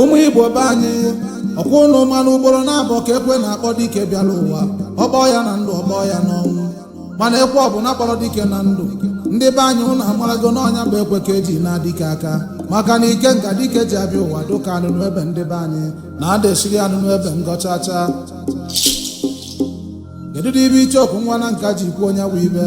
ụmụ igbo be anyị ọkwa ụnụ manụ ugboro naabọ ka ekwe na-akpọ dike bịara ụwa ọ kpọọ ya na ndụ ọ kpọọ ya n'ọnwụ mana ekwe ọbụla kpọrọ dike na ndụ ndị be anyị ụnụ amarago na ọ nya bụ ekwe ka eji ana dike aka maka na ike nka dike ji abịa ụwa dịka anụnụ ebe ndị be anyị na ada esiri anụnụ ebe ngọ chachaa kedu dị ihe icheoku nwa nanka ji kwuo nya bụ ihe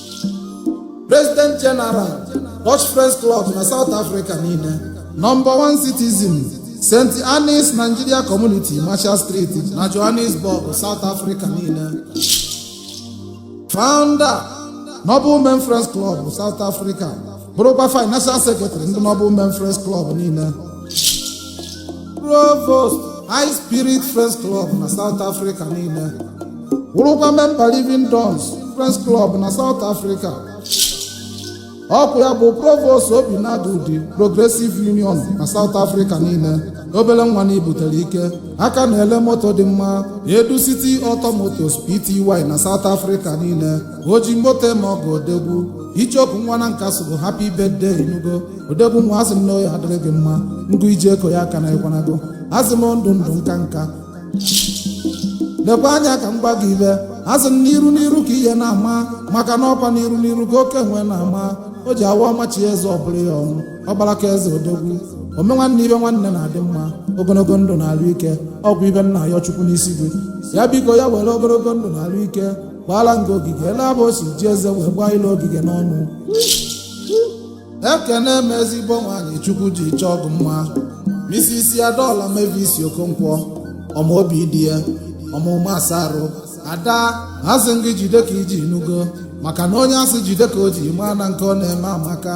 president general dutch friends club na south africa niile number one citizen st annes nigeria community marshall street na johannesburg south africa niile founder noble men friends club south africa bụrụkwa financial secretary ndị noble men friends club niile provost high spirit friends club na south africa niile bụrụkwa memba living dons friends club na south africa ọkwa ya bụ provost obinagu udi progressive union na south africa niile obere nwa na-ebutere ike aka na-ele moto dị mma edu city auto motors pty na south africa niile oji moto eme ọgọ odogwu icheoku nwa nanka sịrị happy birthday ị nụgo odogwu nwa asị m na ọ ya-adịrị gị mma ngụ eji eko ya aka na ịkwanago asị m ndụ ndụ nka nka lekwa anya ka m gwa gị ihe asị m n'iru n'iru ka ihe na-ama maka na ọkwa n'iru n'iru ka oke nwe na-ama o ji awa ọmachi eze ọ bụrụ ya ọnwụ ọkpara ka eze odogwu ome nwanne ihe nwanne na-adị mma ogologo ndụ na arụ ike ọ bụ ihe m na-ayọ chukwu n'isi gị ya biko ya were ogologo ndụ na arụ ike gbaala ngị ogige ele ahụ o si ji eze wee gbaa ile ogige n'ọnụ ekene m ezigbo nwaanyị chukwu ji chọọ gị mma mrs adaọla mavis okonkwo ọma obi di ya ọmụma asa arụ ada asị m gị jide ka i ji ị nụgo maka na onye a sị jide ka o ji maa na nke ọ na-eme amaka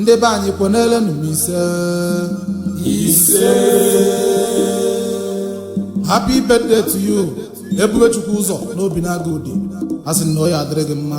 ndị be anyị kwenelenu m ise ise happy birthday to you ebubechukwu ụzọ n'obinagu udi asị m na ọ ya-adịrị gị mma